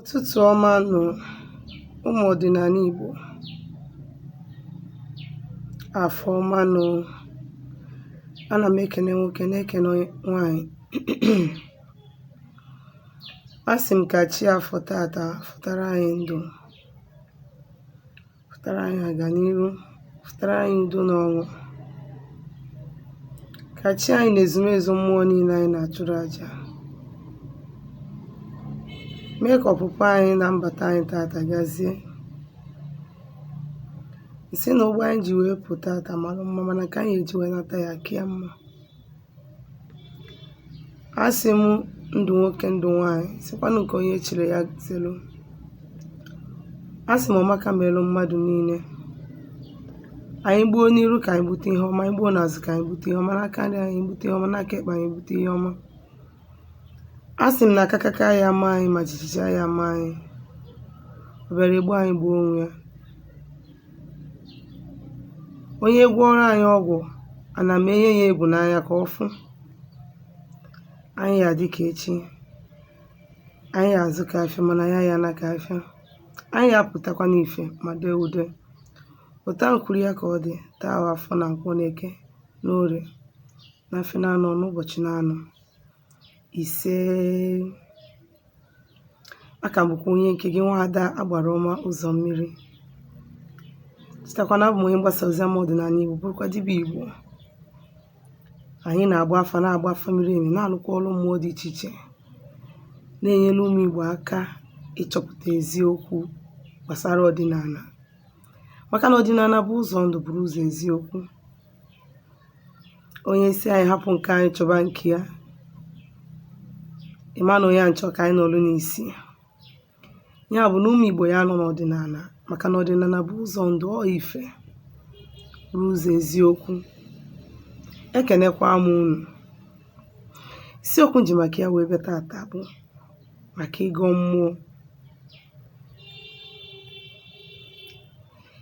Ụtụtụ ọma nụ ụmụ ọdịnala Igbo. Afọ ọma nụ. Ana m ekene nwoke na-ekene nwaanyị. Asị m ka chi afọ tata fụtara anyị ndụ. Fụtara anyị aganiru, fụtara anyị udo na ọṅụ. Ka chi anyị na ezumezu mmụọ niile anyị na-achụrụ aja. Mee ka ọpụpụ anyị na mbata anyị tata gazie. M sị na ụgbọ anyị ji wee pụta tata mara mma mana nke anyị eji wee nata ya ka ya mma. A sị m ndụ nwoke ndụ nwaanyị sịkwanụ nke onye chiri ya zelu a sị m ọmaka melụ mmadụ niile anyị gbuo n'iru ka anyị gbute ihe ọma anyị gbuo n'azụ ka anyị gbute ihe ọma n'aka nri anyị gbute ihe ọma n'aka ekpe anyị gbute ihe ọma A sị m na akakaka aya ama anyị ma jijiji aya ama anyị ọ bịara egbu anyị gbuo onwe ya onye gwọrọ anyị ọgwụ ana m enye ya egwu n'anya ka ọ fụ anyị ya dị ka echi anyị ya azụ ka afịa mana anyị aya ana ka afịa anyị ya apụtakwa n'ife ma dee ude otu a m kwuru ya ka ọ dị taa afọ na nkwọ na eke na orie na afịa naanọ n'ụbọchị naanọ isee a ka m bụkwa onye nke gị nwa ada agbara ọma ụzọ mmiri chetakwa na abụ m onye mgbasa ozi ama ọdịnala igbo bụrụkwa dibịa igbo anyị na-agba afa na-agba afa miri emi na-alụkwa ọrụ mmụọ dị iche iche na-enyere ụmụ igbo aka ịchọpụta eziokwu gbasara ọdịnala maka na ọdịnala bụ ụzọ ndụ bụrụ ụzọ eziokwu onye sị anyị hapụ nke anyị chọba nke ya ị ma na onye a chọ ka anyị nọrụ n'isi ya bụ na ụmụ igbo ya anọ n'ọdịnala maka na ọdịnala bụ ụzọ ndụ ọ ife bụ ụzọ eziokwu ekenekwa m unu isiokwu m ji maka ya wee bịa tata bụ maka ịgọ mmụọ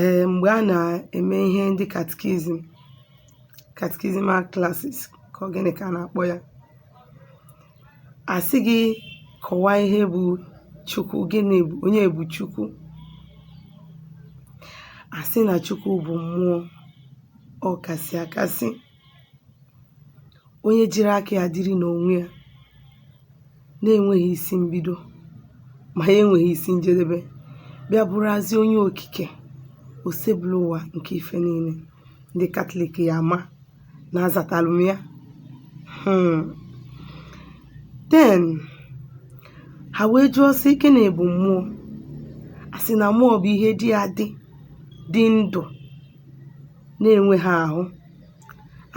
Ee, mgbe a na-eme ihe ndị catechism catechismal classes ka ọ gịnị ka a na-akpọ ya a sị gị kọwaa ihe bụ Chukwu gịnị bụ onye bụ Chukwu a sị na Chukwu bụ mmụọ ọ kasị akasị onye jiri aka ya dịrị n'onwe ya na-enweghị isi mbido ma ya enweghị isi njedebe bịa bụrụazị onye okike Osebụlụwa nke ife niile ndị katọlik ya ama na azatalụ m ya Hmm. then ha wee jụọ sị gịnị bụ mmụọ a sị na mmụọ bụ ihe dị adị dị ndụ na-enweghị ahụ,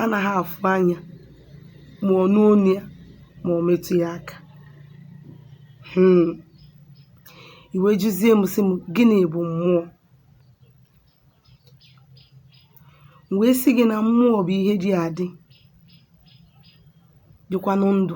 anaghị afụ anya ma ọ nụ onu ya ma ọ metụ ya aka. um I wee jụzie m sị m gịnị bụ mmụọ? M wee sị gị na mmụọ bụ ihe dị adị dịkwanụ ndụ.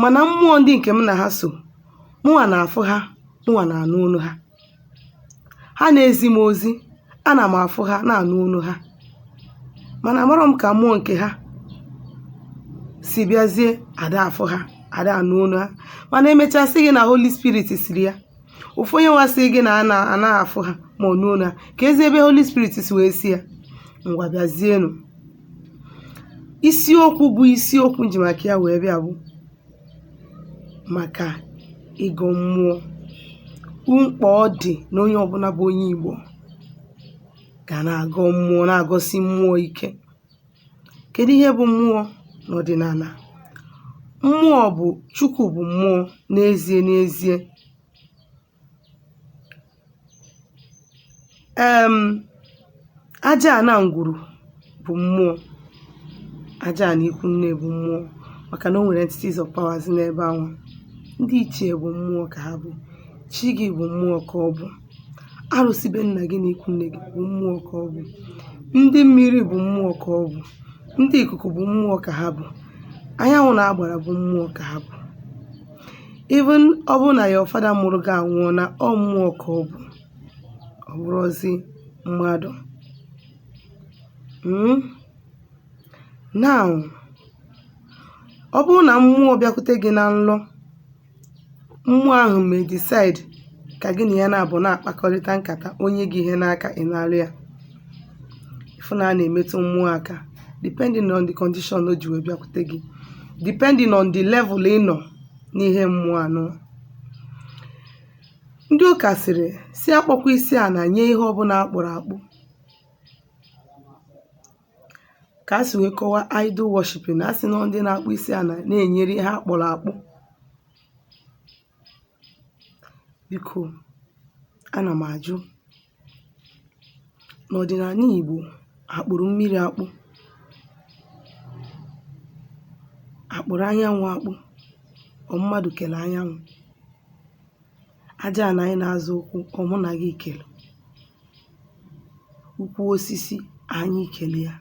mana mmụọ ndị nke m na ha so mụnwa na-afụ ha mụnwa na-anụ onu ha ha na-ezi m ozi ana m afụ ha na-anụ onu ha mana amarọ m ka mmụọ nke ha si bịazie ada afụ ha ada anụ onu ha mana emechaa sị gị na Holy Spirit sịrị ya ofu onye nwa sị gị na a na- a naghị afụ ha ma ọ nụ onu ha kezi ebe holy spirit si wee sị ya ngwa bịazienụ isiokwu bụ isiokwu m ji maka ya wee bịa bụ maka ịgọ mmụọ mkpa ọ dị na onye ọbụna bụ onye igbo ga na-agọ mmụọ na-agọsi mmụọ ike Kèdu ihe bụ̇ mmụọ n'ọ̀dị̀nàlà? Mmụọ bụ̀ Chukwu̇ bụ̀ mmụọ n'ezie n'ezie um aja àna ǹgwùrù bụ̀ mmụọ, aja àna ikwu nne bụ̀ mmụọ màkà nà o nwèrè entities of powers n'ebe anwà, ndị ichiè bụ̀ mmụọ kà ha bụ̀, chi gị bụ̀ mmụọ kà ọ bụ̀. arụsị be nna gị na ikwu nne gị bụ mmụọ ka ọ bụ ndị mmiri bụ mmụọ ka ọ bụ ndị ikuku bụ mmụọ ka ha bụ anyanwụ na agbara bụ mmụọ ka ha bụ even ọ bụrụ na your father mụrụ gị anwụọna ọ mmụọ ka ọ bụ ọ bụrọzi mmadụ Mm? now ọ bụrụ na mmụọ bịakwute gị na nlọ Mmụọ ahụ may decide ka gị na ya naabọ na-akpakọrịta nkata o nye gị ihe n'aka ị nalụ ya ị fụ na a na-emetụ mmụọ aka depending on the condition o ji wee bịakwute gị depending on the level ị nọ n'ihe mmụọ anọ ndị ụka sịrị sị akpọkwa isi ana nye ihe ọbụna akpụrụ akpụ ka a si wee kọwa idol worshiping a sị na ndị na-akpọ isi ana na-enyere ihe a kpụrụ akpụ biko ana m ajụ n'ọdịnala Igbo akpụrụ mmiri akpụ akpụrụ anyanwụ akpụ ọ mmadụ kele anyanwụ aja ana anyị na-azọ ụkwụ ọ mụ na gị kele ukwu osisi anyị kele ya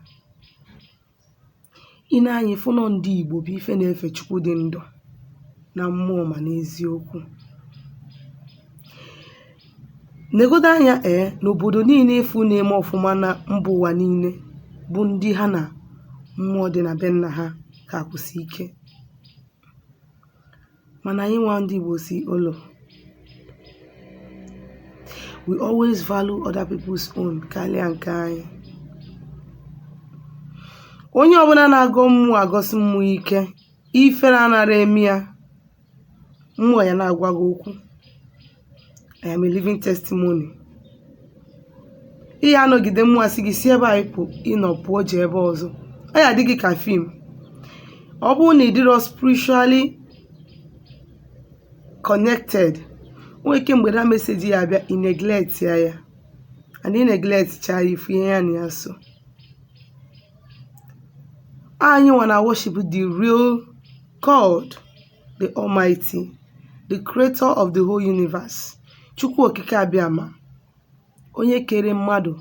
i nee anya ị fụ nọ ndị Igbo bụ ife na-efe Chukwu dị ndụ na mmụọ ma n'eziokwu negodo anya ee n'obodo niile ị fụ na-eme ọfụma na mba ụwa niile bụ ndị ha na mmụọ dị na be nna ha ka akwụsi ike Mana anyị nwa ndị Igbo si ụlọ we always value other people's own karịa nke anyị. Onye ọbụla na-agọ mmụọ agọsi mmụọ ike, ifere anara eme ya, mmụọ ya na-agwa gị okwu. I am a living testimony. Ị ya anọgide mmụọ asị gị si ebe ahụ ị nọ pụọ je ebe ọzọ. Ọ ya adị gị ka fim. Ọ bụrụ na ị dịrọ spiritually connected, o nwere ike mgbe that message ya abịa ị neglectia ya and ị neglect cha ya ị fụ ihe ya na ya so. Anyị nwa na worship the real God. the Almighty, the creator of the whole universe, Chukwu Okike Abịama, onye kere mmadụ,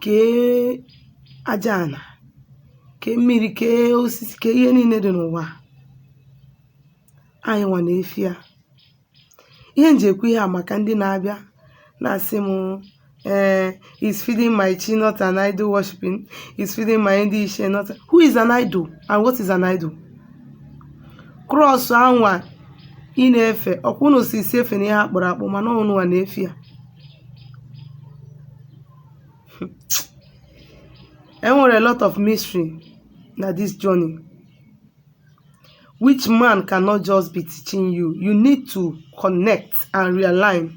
kee aja ana, kee mmiri, kee osisi, kee ihe niile dị n'ụwa. Anyị nwa na-efe ya. ihe m ji ekwu ihe a maka ndị na-abịa na-asị m ee is feeding my chi not an idol worshiping is feeding my ndị ishie not who is an idol and what is an idol cross anwa ị na-efe ọkwa unu sị sị efena ihe a kpụrụ akpụ mana ọ unu nwa na-efe ya enwere a lot of mystery na this journey which man cannot just be teaching you you need to connect and realign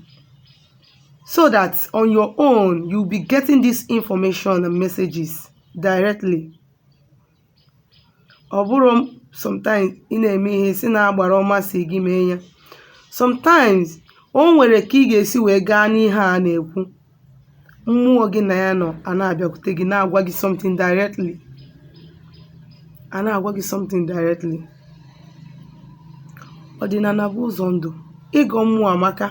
so that on your own you'll be getting this information and messages directly ọ bụrụ sometimes ị na-eme ihe sị na agbara ọma sị gị mee ya sometimes o nwere ka ị ga-esi wee gaa n'ihe a na-ekwu mmụọ gị na ya nọ a na-abịakwute gị na-agwa gị something directly a na-agwa gị something directly ọdịnala bụ ụzọ ndụ ịgọ mmụọ amaka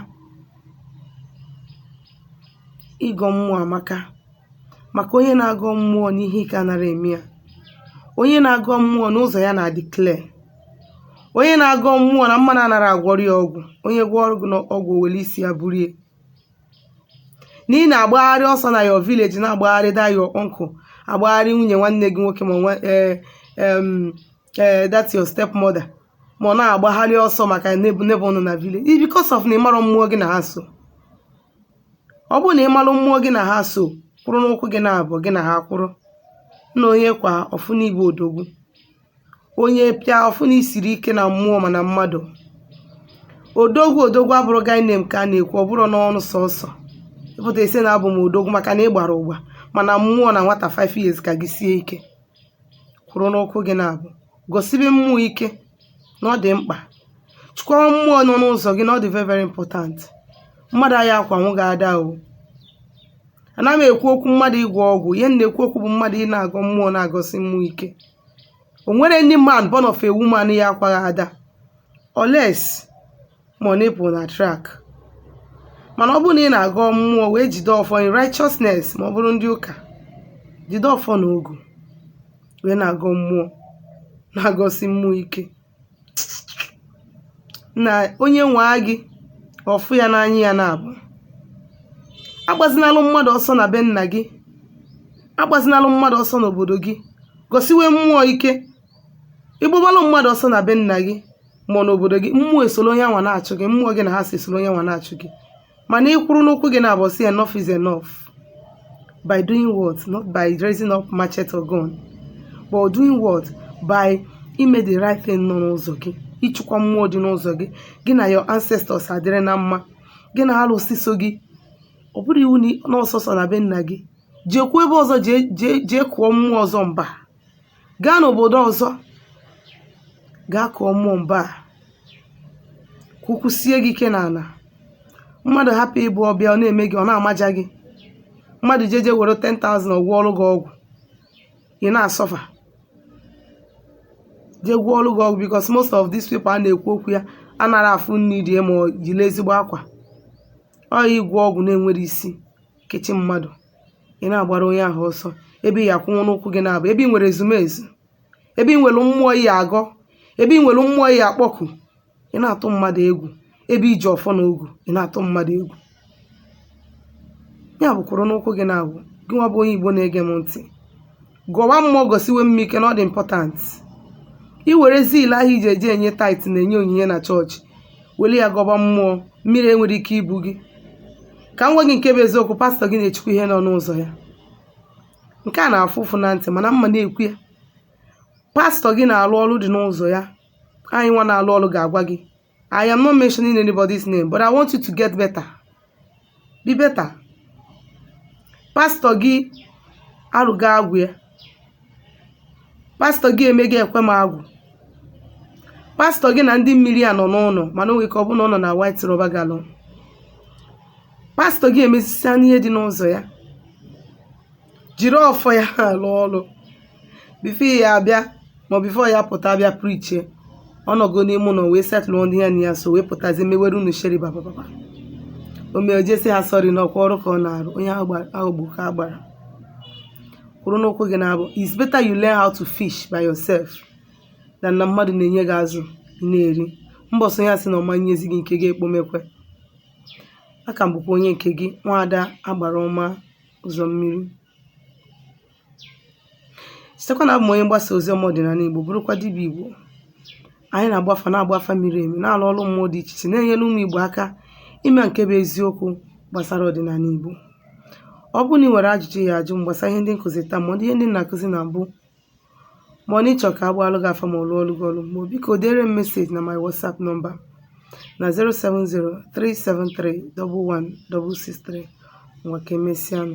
ịgọ mmụọ amaka maka onye na-agọ mmụọ n'ihe ike anara eme ya onye na-agọ mmụọ n'ụzọ ya na-adị clear onye na-agọ mmụọ na mmadụ anara agwọrọ ya ọgwụ onye gwọọrọ gị ọgwụ were isi ya burie na ị na-agbagharị ọsọ na your village na-agbagharị that your uncle agbagharị nwunye nwanne gị nwoke ma nwa eh, em, eh, that your stepmother ma ọ na-agbagharị ọsọ maka neighbor nọ na village It's because of na ị marọ mmụọ gị na ha so ọ bụrụ na ị malụ mmụọ gị na ha so kwụrụ n'ụkwụ gị naabọ gị na ha kwụrụ na onye kwaa ọ fụ na ị bụ odogwu onye pịa ọ fụ na i siri ike na mmụọ ma na mmadụ odogwu odogwu abụrụ guy name ka a na-ekwu ọ bụrụ n'ọnụ sọsọ ị pụta ị sị na abụ m odogwu maka na ị gbara agba mana mmụọ na nwata 5 years ka gị sie ike kwụrụ n'ụkwụ gị naabọ gọsibe mmụọ ike na ọ dị mkpa chịkwawa mmụọ nọ n'ụzọ gị na ọ dị very very important mmadụ aya akwanwu gị ada o ana m ekwu okwu mmadụ ịgwọ ọgwụ ihe m na-ekwu okwu bụ mmadụ ị na-agọ mmụọ na-agọsi mmụọ ike o nwere any man born of a woman ya akwa gị ada unless ma ọ na ị pụ na track mana ọ bụrụ na ị na-agọ mmụọ wee jide ọfọ in righteousness ma ọ bụrụ ndị ụka jide ọfọ na ogu wee na-agọ mmụọ na-agọsi mmụọ ike na onye nwaa gị ọ fụ ya n'anya ya naabọ agbazinalụ mmadụ ọsọ na be nna gị agbazinalụ mmadụ ọsọ n'obodo gị gọsiwe mmụọ ike ị gbabalụ mmadụ ọsọ na be nna gị ma n'obodo gị mmụọ esoro onye nwa na-achụ gị mmụọ gị na ha so esoro onye nwa na-achụ gị mana ị kwụrụ n'ụkwụ gị naabọ sị enough is enough by doing what not by raising up machete or gun but doing what by ime the right thing nọ n'ụzọ gị ịchịkwa mmụọ dị n'ụzọ gị gị na your ancestors adịrị na mma gị na alụsị so gị ọ bụrụ iwu na n'ọsọsọ na be nna gị jekwuo ebe ọzọ jee kụọ mmụọ ọzọ mba gaa n'obodo ọzọ gaa kụọ mmụọ mba ka ụkwụ sie gị ike n'ala mmadụ hapụ ịbụ ọ bịa ọ na-eme gị ọ na-amaja gị mmadụ jeje were 10,000 ọ gwọọrụ gị ọgwụ ị na-asuffer je gwọọrụ gị ọgwụ because most of these people a na-ekwu okwu ya anara afụ nri rie ma ọ yiri ezigbo akwa ọ ya ịgwọ ọgwụ na-enwere isi kechie mmadụ ị na-agbara onye ahụ ọsọ ebe ị ya akwụnwụ n'ụkwụ gị naabụ ebe ị nwere ezumezu ebe ị nwere mmụọ ị ya agọ ebe ị nwere mmụọ ị ya akpọku ị na-atụ mmadụ egwu ebe i ji ọfọ na ogu ị na-atụ mmadụ egwu ya bụ kwụrụ n'ụkwụ gị naabụ gị nwa bụ onye igbo na-ege m ntị Gọwa mmụọ gọsiwe mmụọ ike na ọ dị important. I were zeal ahụ i ji eje enye tithe na-enye onyinye na chọọchị were ya gọba mmụọ, mmiri enwerọ ike ibu gị. Ka m gwa gị nke bụ eziokwu, pastọ gị na-echukwa ihe nọ n'ụzọ ya. Nke a na-afụ ụfụ na ntị mana m ma na-ekwu ya. Pastọ gị na-alụ ọrụ dị n'ụzọ ya, anyị nwa na-alụ ọrụ ga-agwa gị I am not mentioning anybody's name, but I want you to get better. Be better. Pastọ gị arụgo agwụ ya. Pastọ gị emego ekwe m agwụ. Pastọ gị na ndị mmiri a nọ n'ụlọ mana o nwere ike ọ bụrụ na ọ nọ na white rubber gallon. Pastọ gị emezisia n'ihe dị n'ụzọ ya. Jiri ọfọ ya alụ ọlụ. before ya abịa ma before ya apụta bịa prichie ọ nọgo n'ime ụlọ wee setụlụ ndị ya na ya so wee pụtazi mewere unu sheri babababa o mee o je sị ha sorry na ọ kwa ọrụ ka ọ na-arụ onye a ghọgbu ka a gbara kwụrụ n'ụkwụ gị naabụ it's better you learn how to fish by yourself than na mmadụ na-enye gị azụ ị na-eri mbọsị ọ ya asị na ọ ma nyezi gị nke gị ekpomekwe a ka m bụkwa onye nke gị nwaada agbara ọma ụzọ mmiri chetekwa na abụ m onye mgbasa ozi ọma ọdịnala Igbo bụrụkwa dibịa Igbo anyị na-agba afa na-agba afa miri emi na-alụ ọrụ mmụọ dị iche iche na-enyere ụmụ Igbo aka ịma nke bụ eziokwu gbasara ọdịnala Igbo ọ bụrụ na ị nwere ajụjụ ị ya ajụ m gbasara ihe ndị m kụzi taa ma ọ dị ihe ndị m na-akụzi na mbụ ma ọ na ị chọ ka a gbaalụ gị afa ma ọ lụọlụ gị ọlụ mmụọ biko dere m meseji na my WhatsApp nọmba na 07037311663 ngwa ka emesịanụ